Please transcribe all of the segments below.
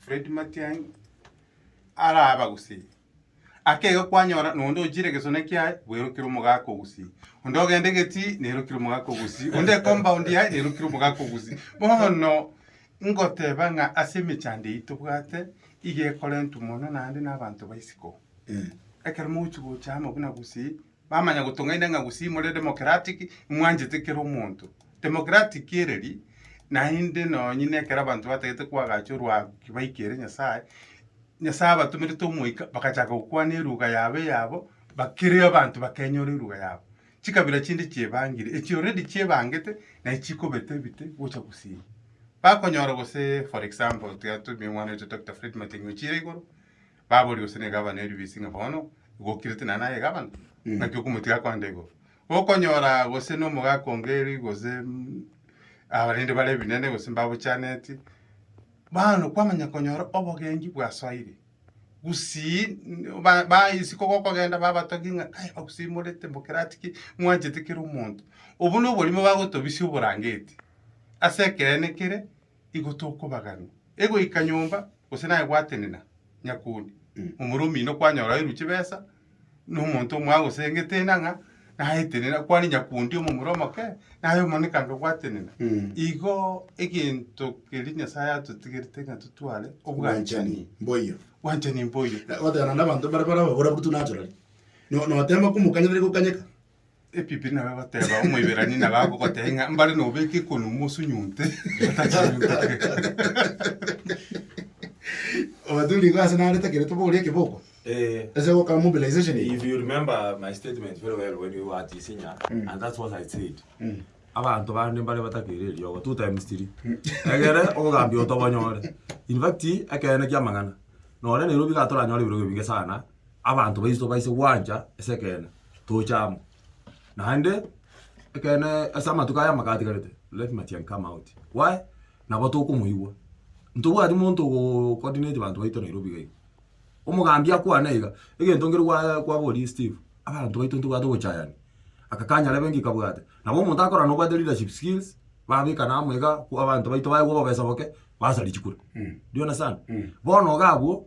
Fred Matiang'i araba gose ake iga kwanyora nonde ochire egesone kiaye bwerokire omogaka ogusi onde ogende geti nerokire omogaka ogusi onde ecompoundi yaye nerokire omogaka ogusi bono ngoteba ng'a ase emechando eyio tobwate iga ekorentwe mono naende nabanto baisiko ekero mogochi gocha amo buna gusii. Bamanya gotong'aina ng'a gusii more democratic, mwanchete kera omonto. Democratic ereri, naende nonye na ekero abanto batagete koagacha orwaago ki baikere Nyasae, Nyasae abatomerete omoika bagachaka gokwana eruga yabo eyabo, bakere abanto bakenyora eruga yabo. Chikabira chinde chiebangire, echi already chiebangete, naye chikobeta ebite gocha gusii. Bakonyora gose for example, tiga tumie omwana oito Doctor Fred Matiang'i ochire igoro. baboria gose negabana eribisi ng'a bono igokirete naye naye egabana, naki okomotiga akoenda igoro. Okonyora gose nomogaka ongeri gose abarende bare ebinene gose mbabochaneti, bono kwamanya konyora obogengi bwasoire, gusii ba- ba isiko gokogenda babatogia ng'a aye bakusimorete mokerati ki, mwanchete kera omonto. Obwo noborimo bagotobisia oborangeti ase ekeene kere. igo tokobaganu. Egoika nyomba, gose naye gwatenena nyakoni, omoro omino kwanyora oeru chibesa, nomonto mwagosengete enang'a, naetenena kware nyakundi omomura omoke, naye omonekanga gwatenena. Mm. Igo egento keria Nyasaye atotigerete ng'a totware obwanchani. mboyo Obwanchani mboyo. goteana na abanto bare barababura buru tunachorari No- notemba komokanya tari gokanyeka Ebibe nabo egoteba Omoiberania nabo agogotebia ng'a mbare nobeke ekonu mosunyunte otachinyuntoke. Obathuri igo ase nare takerete boria ekeboko. Eh, Ase goka mobilization. if you remember my statement very well when we were at Isinya, and that's what I said. Abanto bande mbare batakeire eriogo two times three. Egere obogambia obo tobonyore. In fact, ekeene kia amang'ana. Nonye Nairobi iga toranyore ebirogo ebinge sana, abanto baiso baise gwancha ase ekeene. toche amo. Naende, ekeene ase amatuko aya amaka atigarete, let Matiang'i come out. Why? Nabo tokomoigwa. Ntobwati monto ogo coordinate banto baito Nairobi iga iga. Omogambi akwane iga, egento nkere gwa kwaborie Steve, abanto baito ntobwate obochayani. Aka kanyare benki kabwate. Nabo omonto akorora nobwate leadership skills, babekana amo iga, kwa abanto baito baye kwa obobesa boke, basarichi kure. Do you understand? Bono iga abwo,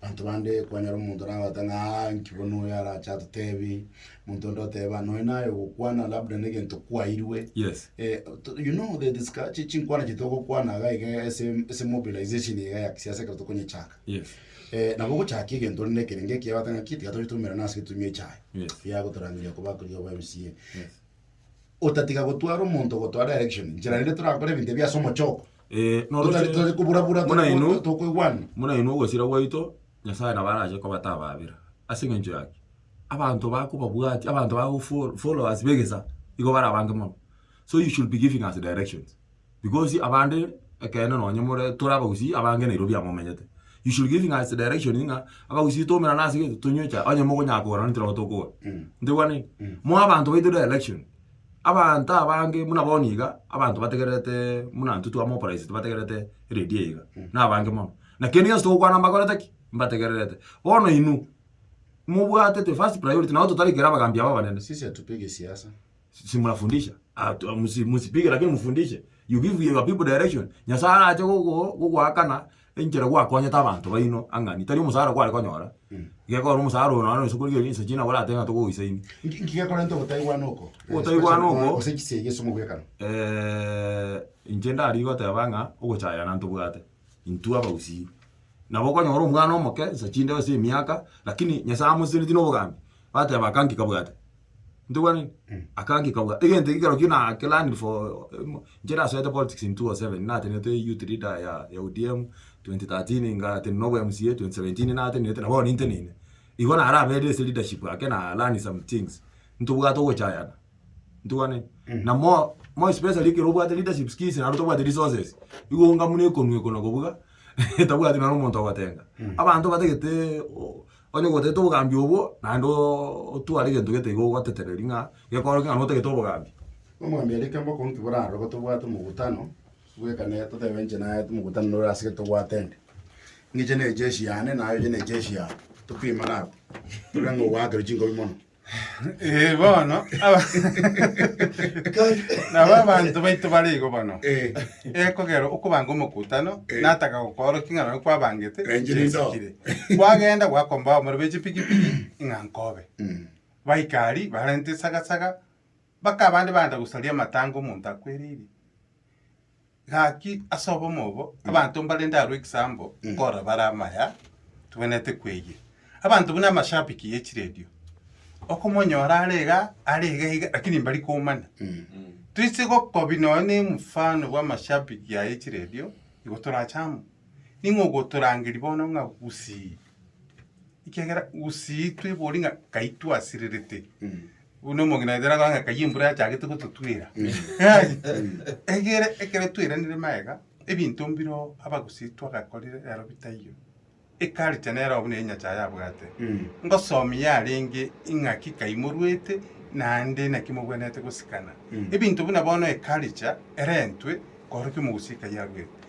Abanto bande, kwanyora omonto nabate ng'a, Aa, inki bono oyo arache atotebi? Omonto onde oteba, Nonya naye ogokwana, labda negento kwairwe. Yes. Eh, to- you know the disca- chi- chinkwana chiaito ogokwana iga iga ase ase mobilization iga ya kisiasa ekero tokonyechaka Yes. Eh, nabo ogochakia egento rende ekerenge ekiya bateba ng'a ki tiga tochitumera nase etumia echaye Yes. yagotorangeria koba akoria ba MCA Yes. otatiga gotwara omonto gotoa direction njera rende torakore ebinto ebi ase omochoko Eh, noro Totari- ase- totari koburabura, Buna totari- inwe- tokoigwana. buna inwe ogosira gwaito nyasae nabo arache kobatababera ase eng'encho yaki abanto bakobabwati abanto bago fo- followers begesa igo barabange mono so you should be giving us directions Because abande ekeene nonye more tore abagusii abange nairobio biamomenyete. You should give ng'a ase direction ng'a abagusii toumerane ase egento tonywe chai onye mokonyaa kogorana nintwe nabo tokogora. Ntegwani? Moe abanto baito direction. Abanto abange buna bono iga abanto bategererete buna intwe twa mobilize tibategererete radio eye iga. Nabange mono. Na kende gionsi togokwana mbakorete ki? Mbategererete. Bono inwe mobwatete first priority nabo totari kera abagambi aba abanene. Sisi hatupigi siasa. si murafundisha ah, musipike lakini mufundishe you give your people direction nyasaye arache gogoakana enchera gwakonyete abanto baino ang'ani tari omosara kware konyora mm. gekora omosara oyo nonye nse korigereria ense china gorate ng'a togoisaini nkigekorente ogotaigwana oko ogotaigwana oko ase chisegi eh, ase omobwekano inche ndari goteba ng'a ogochayana ntobwate intwe abagusii nabo okonyora omwana omoke nsa chinde ase emiaka lakini nyasaye amoseseneti na obogambi bateba kanki kabwate Ntogwenereti? Akangika bwa egento eke kerokio na ke learned for inche nasoete politics in 2007 natenete youth leader ya ya ODM 2013 ngatenena na obo MCA 2017 natenenete na bono ninteneine igo naro aberire ase leadership ake na learn some things ntobwate ogochayana ntogwenereti? Na more more especially ekero obwate leadership skills naende otabwati resources igo eng'amu nekonwa ekona kobuga etabwati naro omonto ogotenga abanto batagete o. Onye gotagete obogambi obwo, naende otware egento gete iga ogotetereri ng'a gekorokigwe ng'a notagete obogambi. Nomwambie rike mboka onki borarore go tobwate omogutano, bwekane totebe inche naye omogutano nore ase gete tobwate ende. Ng'iche neche echi yane, naye oye neche echi yaye. Topimane abwo, torore ng'a ogoakerwa chinkobia mono. Eh, bono aba- nabo abanto baito bare igo bono Eh. ekogera okobanga omokutano Eh. nataka gokoorokia ng'a nabo kwabangete Enchiri ndo. chesikire kwagenda gwakomba abamura b'echipigipigi ng'a nkobe Mm. baikari barente esagasaga Mpaka abande baancha gosaria amatanga omonto akwereirie. Gaki ase obomo obo, abanto mbarende aroro ekisambo, korora bare amaya, tobwenerete kweyia. Abanto buna amashabiki ye chiredio, okomonyora are iga, are iga iga, lakini mbari komanya. Toise gokobia nonya na omofano bwa amashabiki aya ye chiredio, igo torache amo. Ning'o ogotorangeria bono ng'a gusii, ekiagera gusii tweborie ng'a kai twasirerete. Buna omogina oito nabo ng'a kayie embura yachagete gototwera. Egere ekero tweranire magega, ebinto mbire oo abagusii twagakorire ero bitaiyo. Eculture nere oo buna enyasae abwate. Ngosomia yarenge ing'aki kai morwete naende naki mogwenerete gosikana. Ebinto buna bono eculture erentwe korokia omogusii kai arwete.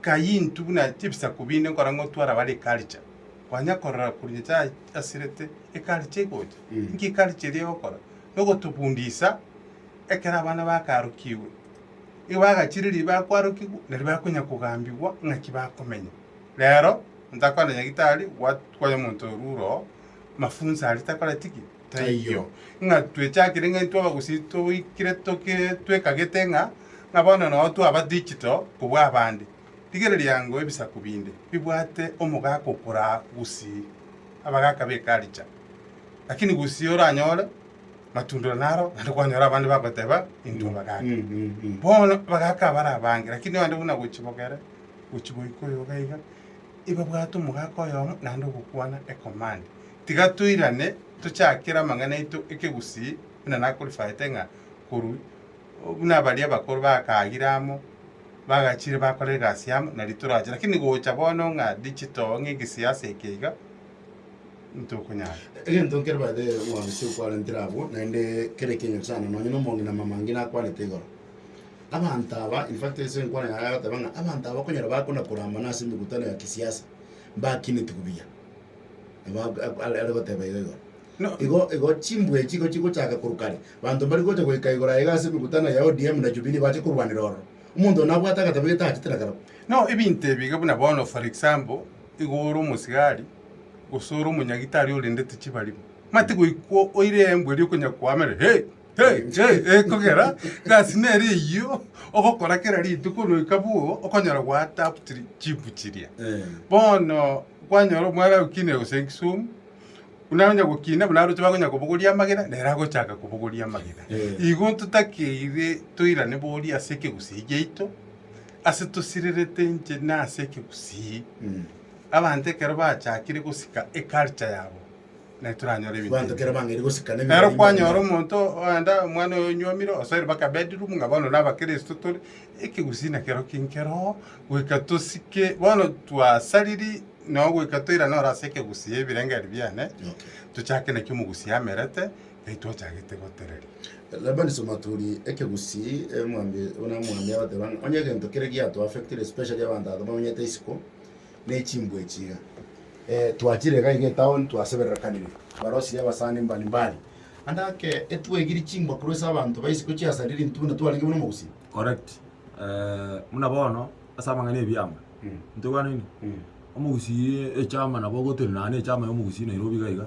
Kayintu buna chibisaku binde nkora ng'otwara bare ekaricha, kwanya korora korwa Nyasaye asirete ekaricha egocha. Inki ekaricha eria egokora? Nogotobundisa ekero abana bakarokigwe. Nigo bagachire riria bakwarokigwa, nari bakonya kogambigwa ng'aki bakomenya. Rero, ntakwana nyagitari, gwa- kwanya omonto orure oo, mafunzo aria takoreti ki? Taiyo. Ng'a twechakire ng'a intwe abagusii toikire toki twekagete ng'a ng'a bono noo twaba digital kobua abande. Rigereria ango ebisaku binde bibwate omogaka okoraa gusii abagaka be karicha. Lakini gusii oranyore matundore naro naende kwanyora abande bagoteba intwe abagaka. Bono abagaka abare abange lakini abande buna gochibogere gochi goika oyoga iga, ebabwate omogaka oyomo naende ogokwana ecommand. Tiga toirane, tochakere amang'ana aito ekegusii, buna nakorifayete ng'a korwa buna baria abakoro bakaagire amo, bagachiire bakora egasi amo, nari torache. Lakini gocha bono ng'a digital, ng'a egesiasa eke iga, ntokonyara. Egento nkere baede Mwansi okwarentire abwo, naende kera ekiaigento sana, nonye na omong'ina mama ngina akwanete igoro. Abanto aba, in fact ase enkwana yaye agoteba ng'a abanto aba okonyora bakona korambana ase emegutano ya kisiasa, mbakinetigwe buya. Nigo ak- ak- are are goteba iga igoro. No- Igo igo chimbwa echi igo chigochaka korwa kare. Banto mbari gocha goika igoro aiga ase emekutano ya ODM na Jubilee bache korwanera ororo. Omonto one abwate agateba iga tachete na karau. No ebinto ebi iga buna bono for example, igo ore omosigari, gose ore omonyagitari orendete chibarimo. Mati goikwa oire embwa eria okonya koamera hey! Hey! Hey! Ekogera gasi nere eyio ogokora kera rituko noika bwogo okonyora gwa adapt ri- chimbwa chiria. Eh. Bono Kwanyora omwana agokina gose egesumu, buna onye gokina buna aroche bakonya kobogoria amagena, nere agochaka kobogoria amagena. Igo totakeire toirane boria ase ekegusii giaito, ase tosirerete inche na ase ekegusii. Abanto ekero bachakire gosika eculture yabo. naye toranyore ebinto Abanto ebi. kera bang'aini gosika Ero n'emibere kwanyora y'Imana. omonto oenda omwana oye onywomire osoire mpaka bedroom ng'a bono na abakristo tore ekegusii nakero kinkero goika tosike bono twasariri no goika toirane ore ase ekegusii ebirengeri biane Okay. tochake naki omogusii amerete naki twachagete gotereria. Labani Somaturi, ekegusii, eh, omwami, buna omwami agateba ng'a onye egento kere giato affectire especially abanto abanto bamenyete isiko, ne chimbwa echi iga. Eh, twachire iga iga etown twasebererekanire barosirie abasani mbali mbali. Ande ake etwaigirie chimbwa korwa ase abanto ba isiko chiasarire rintuna twarenge buna omogusii. Correct. Eh, buna bono ase amang'ana ya ebiama, ntokwanini? Omogusii echama nabo ogotire nonye na echama ya omogusii Nairobi iga iga,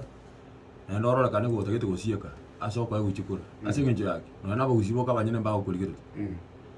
naende ororekane ng'a otagete gosieka ase okoeguchikora. Ase eng'encho yaki, nonye na abagusii boka abanyene mbagokorigereria.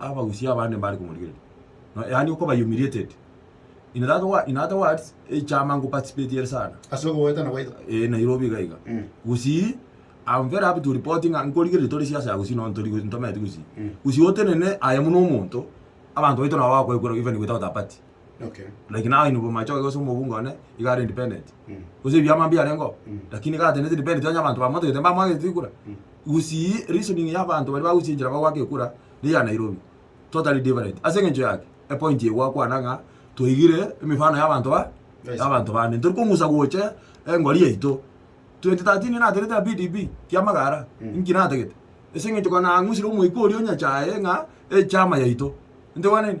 abagusii abande mbare komorigereria, no yaani okoba humiliated. In that wa, in other words, echama ngoparticipate ere sana. Ase ogoetana gwaito. Eh, Nairobi iga iga. Mm. Gusii, I'm very happy to report ng'a nkorigereria tore siasa ya gusii, no ntori gusii, ntometi gusii. Mm. Gusii otenene aye buna omonto, abanto baito nabo bakoekwera even without a party. Okay. like now in bomachoge gose omobunga one iga are independent Mm. gose ebiama mbiarengeo Mm. lakini iga atenete independent onye abanto bamotogete mbamwagete ekura Mm. gusii reasoning ya abanto baria bagusia enchera bagwaka ekura ne ya nairobi totally different ase eng'encho yaki epoint eye gwakwana ng'a toigire emefano ya abanto ba Yes. ya abanto bande ntori kong'usa goche engori yaito 2013 naterete ya pdp kia magara Mm. inki natagete ase eng'encho kona nang'usire omoika oria onyachaye ng'a echama yaito intwe gwaneni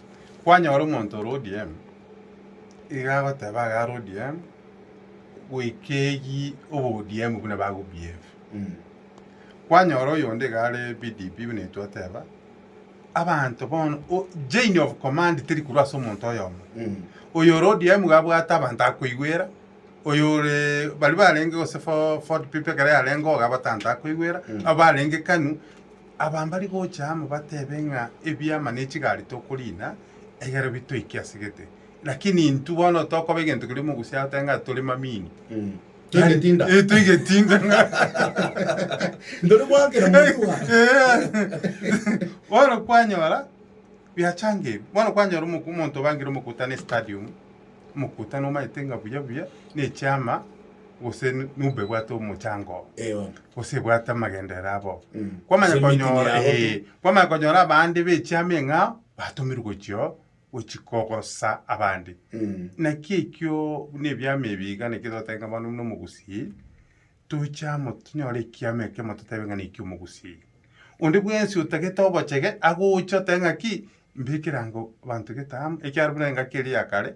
Kwanyora omonto ore ODM, iga agoteba iga are ODM, goika eyie obo ODM buna bago behave. Kwanyora oyonde iga are PDP buna intwe oteba, abanto bono, o- chain of command teri korwa ase omonto oyomo. Oyo ore ODM iga abwate abanto akoigwera, oyo ore baria barenge gose fo- Ford people ekero yarenge iga abatanta akoigwera, abo barenge KANU, Abambari gocha amo batebe ng'a ebiama ne chigari tokoriina egere bitoike ase gete. Lakini intwe bono tokoba egento keria omogusia agoteebe ng'a tore mamini. Toigetinda. Eh, toigetinda ng'a Ndori gwakera motwe aa. Eh, bono kwanyora biachanga ebi bono kwanyora omoku- omonto obangire omokutano estadium omokutano omanyete ng'a buya buya na echiama gose numba ebwate omochango oo, Eh, bono. gose ebwate amagenderero abo. Mm. Kwamanya Gose emiti konyora, yabo. eh, kwamanya konyora abande ba echiama eng'ao batomirwe gochio gochi kogosa abande. Mm. Naki ekio buna ebiama ebi iga naki togoteba ng'a bono buna omogusii, toche amo tonyore ekiama ekemo totebe ng'a nekia omogusii. Onde bwensi otagete obochege, agocha otebe ng'aki, mbekere ango abanto gete amo, ekiagera buna engaki eria ya kare,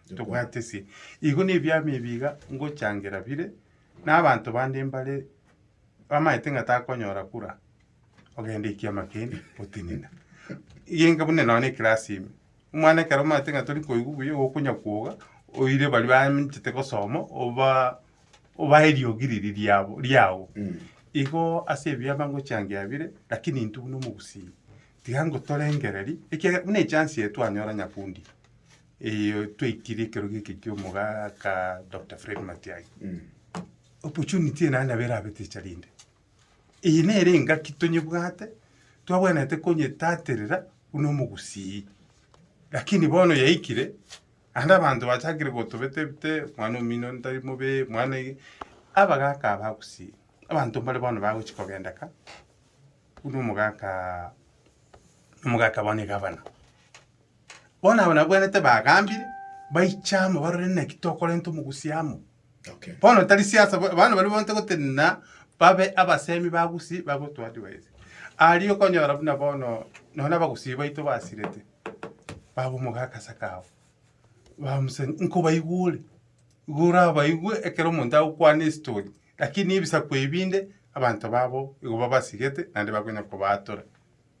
tobwatesie. Igo nebiama ebi iga ngochangera bire, na abanto bande mbare bamaete ng'a takonyora kura, ogenda ekiama kende otenena. Egenka buna nonya na ekerasi ime, omwana ekero omaete ng'a tori koigwa buya igo okonya kwoga, oire baria banchete gosoma oba obae eriogi riria riabo riago. Igo ase ebiama ngochangea bire, lakini intwe buna omogusii, tiga ngotorengereria, ekiagera buna echance eye twanyora Nyakundi, Eyio twaikirie ekero geke ki'omogaa ka Doctor Fred Matiang'i. Opportunity eye naye nabo erabe teacher rinde. Eye nere engaki tonyebwate, twabwenerete konyetaterera buna omogusii. Lakini bono yaikire, naende abanto bachakire gotobete bete, mwana omino onde tari mobe, mwana ege, abagaka aba gusii, abanto mbare bono bagochi kogenda ka, buna omogaka, omogaka bono egavana. Bono aba nabwenerete bagambire, baiche amo barore naki tokorenta omogusi amo. Okay. Bono tari siasa, bo- abana baria bonte gotenena babe abasemi ba gusi bagotuadvise. Aria okonyora buna bono nonye abagusi baito basirete, baba omogaka ase akao, bamuse nkobaigure, igo orabaigue ekero omonto agokwana estory, lakini ebisaku ebi binde abanto babo igo babasigete naende bakonya kobaatora.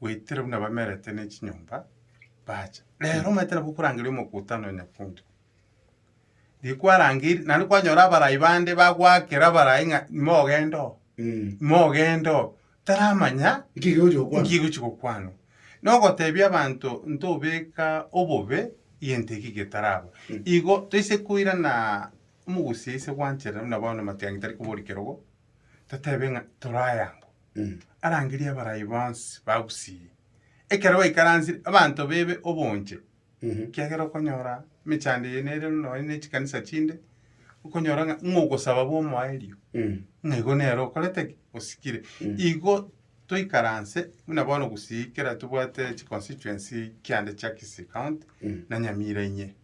Goetera buna bamerete ne chinyomba bacha. Rero omanyete nabo okorangeria omokutano nyakunto. Rikwarangeiri, naende kwanyora abarai bande bagwakera abarai ng'a imogenda oo, Mm. imogenda oo. Taramanya Nki gegochi gokwana? nki egochi gokwanwa. Nogotebia abanto ntobeka obobe egento eki getaraba. Mm. Igo toise koirana omogusia ise gwancherera buna bono amatiangi tari kobori kerogo, totebe ng'a torayangwa. arangerie abarai bonsi ba Gusii. Ekero baikaransire, abanto bebe obonche, ekiagera okonyora emechando eye nere buna nonye ne chikanisa chinde, okonyora ng'a ng'a ogosaba bw'omoerio, ng'a igo nere okorete ki? Osikire. Igo toikaranse buna bono Gusii kera tobwate chiconstituency kiande chia Kisii County na Nyamira inye.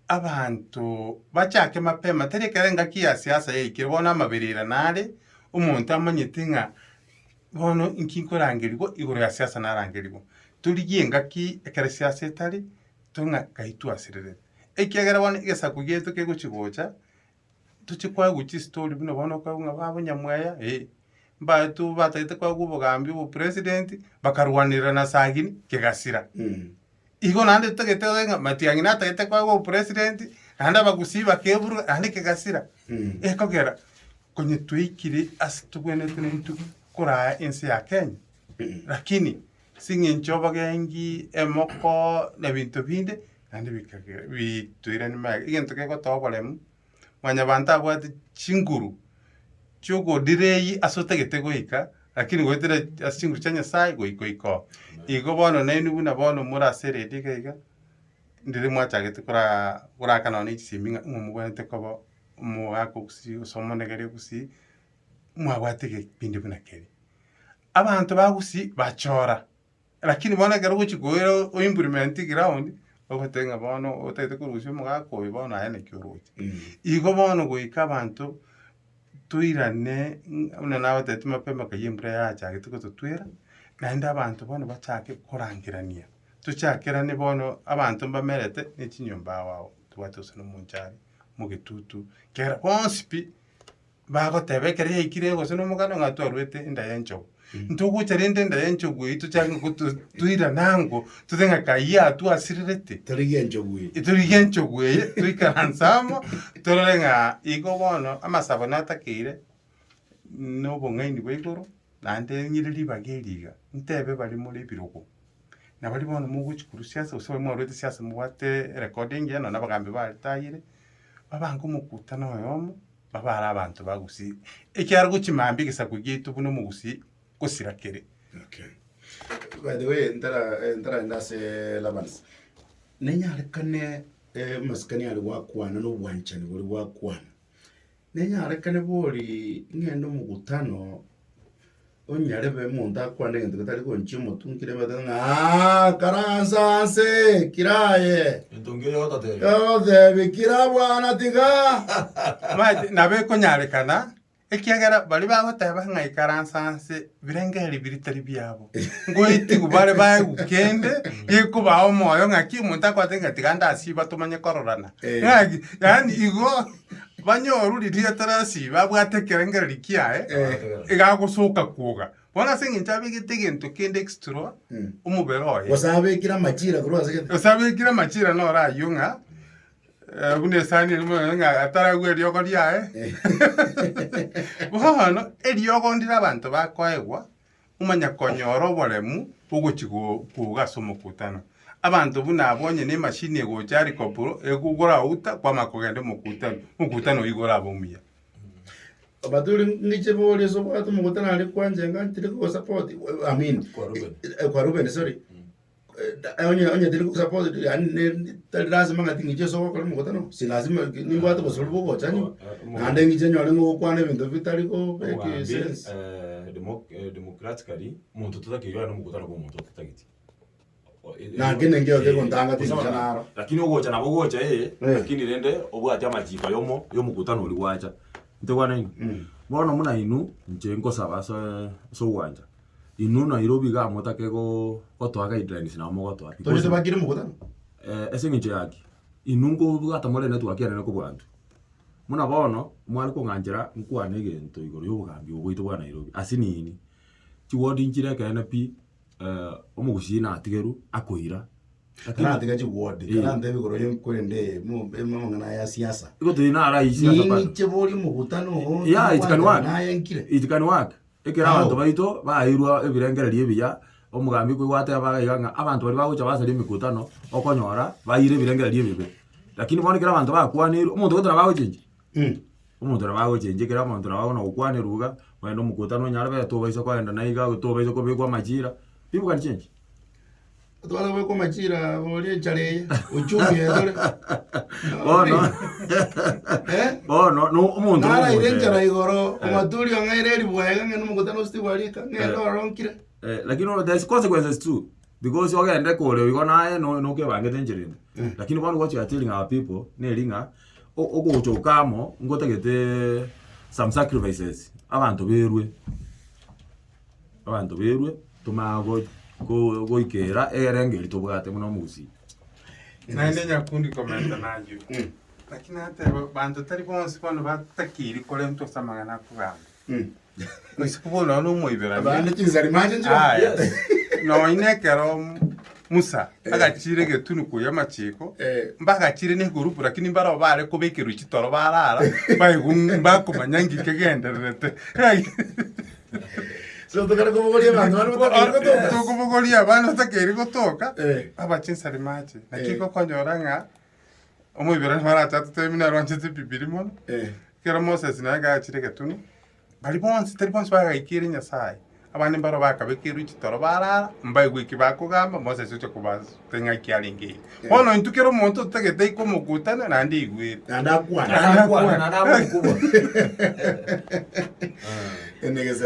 Abanto bachake mapema, tari ekero engaki ya siasa yaikire, bono amaberera nare, omonto amanyete ng'a bono inki nkorangerigwa igoro ya siasa narangerigwa. Torigie engaki ekero siasa etari, tore ng'a kai twasirerete, ekiagera bono egesaku giaito kegochi gocha, Tochi koegwa chistory buna bono okoegwa ng'a babonyamweya eh, mbaeto batagete koegwa obogambi obopresident, bakarwanerera na sagini kegasira. Igo naende totagete oye ng'a matiang'i natagete koegwa obopresident, naende abagusii bakeburwa naende kegasira. Ekogera konye twaikire ase togwenerete ne rituko koraya ense ya Kenya, lakini. as'eng'encho bagengi emoko na ebinto binde, naende bikagera bitoirani magega, egento gegotoa oboremu, mwanyabanto abwate chinguru chiogodira eyie as'otagete goika, lakini goetera ase chinguru chia Nyasaye goika oika oo. Igo bono nainwe buna bono more ase eredio iga iga, ndiri mwachagete koraa koraka nonye ne chisemi ng'a ng'a mobwenerete koba omogaka o gusii gose omonegeri o gusii, mwabwate egekpindi buna keria. Abanto ba Gusii bachora, lakini bono ekero ogochia koira o implement ground, ogoteba ng'a bono otagete korusia omogaka oyo bono aye naki oroche. Igo bono goika abanto toirane ng'a buna nagotebitie mapema kaiya embura yachagete gototwera, naende abanto bono bachake korangerania. Tochakerane bono abanto mbamerete ne chinyomba ao ao, tobwate gose na omonchari, mogetutu, kera bonsi pi. Bagoteba ekero yaikire gose nomoganda ng'a twarwete enda y'enchogu. Ntogocha rende enda y'enchogu eyio tochake gotu toirane ango totebe ng'a kayi yatwasirerete. Torigie enchogu eye. Torigie enchogu eye toikaranse amo torore ng'a igo bono amasabo natakeire na obong'aini bwa igoro naende ng'ire ribaga eri iga ntebe bare more ebirogo. Na baria bono mogochi korwa siasa gose baria mwarwete siasa mobwate erekodo engiya nonya na abagambi baretayire, babange omokutano oyomo. Babaare abanto ba Gusii, ekiagera gochia mambia egesaku giaito buna Omogusii gosira kere. Okay. By the way, ntara eh, ntaraende ase Labans. Nenyarekane eh, masikani are gwakwana na obwanchani bore gwakwana. Nenyarekane bori ng'ende omogutano Onyarebe omonto akwane egento getari gonchia omotunki na emetwe ng'a "Aa, karansa nse, kira aye. Entunki eye ototebe. Otebe, kira bwana tiga. Mati nabo ekonyarekana, ekiagera baria bagoteba ng'a ikaransa nse birengeri biria tari biabo. Ngoetigwe bare baegwe kende, gekobao omoyo ng'aki omonto akwate ng'a tiga ndasiba tomanye kororana. Eh. Ng'aki, yaani igo Banyoru riria Terasi babwate ekerengererio kiaye, iga agosoka kwoga. Bono ase engencho abegete egento kende extra omobere oye. Gose abekire amachira korwa ase gete. Gose abekire amachira noro ayio ng'a eh, buna esani eria mono ng'a ataragwe eriogo riaye. Bono eriogo ndire abanto bakoegwa, omanye konyora oboremu bw'ogochia koga ase omokutano. Abanto buna abwo onye ne emashini egocha helicopro egogouta kwama kogenda omokutano, omokutano oyio igo orabe omuya. Abature ngiche bori ase obwate omokutano aria kwanche enga ntiri kogo support amini. Kwa Ruben. Kwa Ruben sorry. onye tari suppose yaani ne- tari lasima ng'ati ng'iche ase ogokora omogotano ase lasima ki- nimbwate obosubori bwa ogochani naende ng'iche nyore ng'a ogokwana ebinto bitari go- beki Omwami, sense. eh, demo- eh, democratically, omonto totakeire ore nomogotano bwa omonto otatageti. O- e- e- Na nki ningio Eh, gekontanga gosa tingicha bana- naro. Lakini ogocha nabo ogocha ee, Eh. lakini rende obwate amachiko ayomo ya omogotano oria gwacha. Ntegwa naini? Bono buna inwe, inche nkosaba ase ase ogwancha. Inwe nairo bigaa motake goo gotoa guidelines nabo mogotoa Tore because tobakire mokutano. eh, ase eng'encho yaki, inwe nkobwata more network enene kobua intwe. Buna bono, mware kong'anchera nkwane egento igoro y'obogambi obo bwaito bwa Nairobi, ase nini, chiward nchire ekeene pi, eh, omogusii natigerwe akoira, lakini Karatiga chiward, Eh. karantebe igoro ye korende eye, mo- be- mamang'ana aya ya siasa. igo tiri naro aywo siasa bado. Ninche boria omokutano oo, Yeah, it can work. nayenkire. It can work. Ekero abanto Ao. baito baeirwe ebirengererio ebiya, omogambi kwaigwa ateba iga iga ng'a abanto baria bagocha basaria emekutano, okonyora baeire ebirengererio ebibe. Lakini bono ekero abanto bakwaneirwe, omonto gete nabo agochenchwa? Inki? Omonto nabo agochenchwa, ekero omonto nabo bono agokwanerwa iga, ogende omokutano onyare beta obaise kogenda na iga, tobaisa kobekwa amachira, ribuga richenchire. Otware goika omachira oria enchara eye, ochumie etore. Bono, Eh? bono, no omonto Nara ire nogoteeba. enchara igoro, Eh. omaturi ong'aire eribwaye iga ng'ende omogutano ositigwe gwa rika, ng'ende Eh. oronkire. Eh, lakini no- there's consequences too because ogende kore igo naye no- nokebangete enchera ende Mm. lakini bono what you are telling our people neri ng'a o- ogocha oka amo ngotagete some sacrifices abanto berwe abanto bairwe tomanye go- go- goikera egerengo erio tobwate buna omogusii. Naende nyakundi komenta nayio. Lakini nateba banto tari bonsi bono batakeiri korentwa ase amang'ana a kogamba. Boisiko bono nonya na omoiberania. Abande chinsari mache nchire. Aya. Nonya na ekero Musa agachiire egetuni koyia amachiko, Eh. mbagachiire na egurupu lakini mbarabwo bare kobekerwa chitoro barara, baigwa bakomanya ng'iki kegendererete. So tokare kobogoria abanto bana botakeire gotoka. tokobogoria abana otakeiri gotoka Eh. aba chinsari mache naki Eh. gokonyora ng'a omoiberani marache atotebe buna arwanchete ebibiri mono Eh. ekero moses naye gachire egetuni bari bonsi tari bonsi bagaikire nyasaye abande mbaro bakabekerwe chitoro barara mbaigwe eki bakogamba moses oche kobas- Eng'aki arenge eye. Bono intwe kera omonto otagete ikomokutana naende aigwete. Naende akwane. Naende akwane, naende agokoboa. Ende gese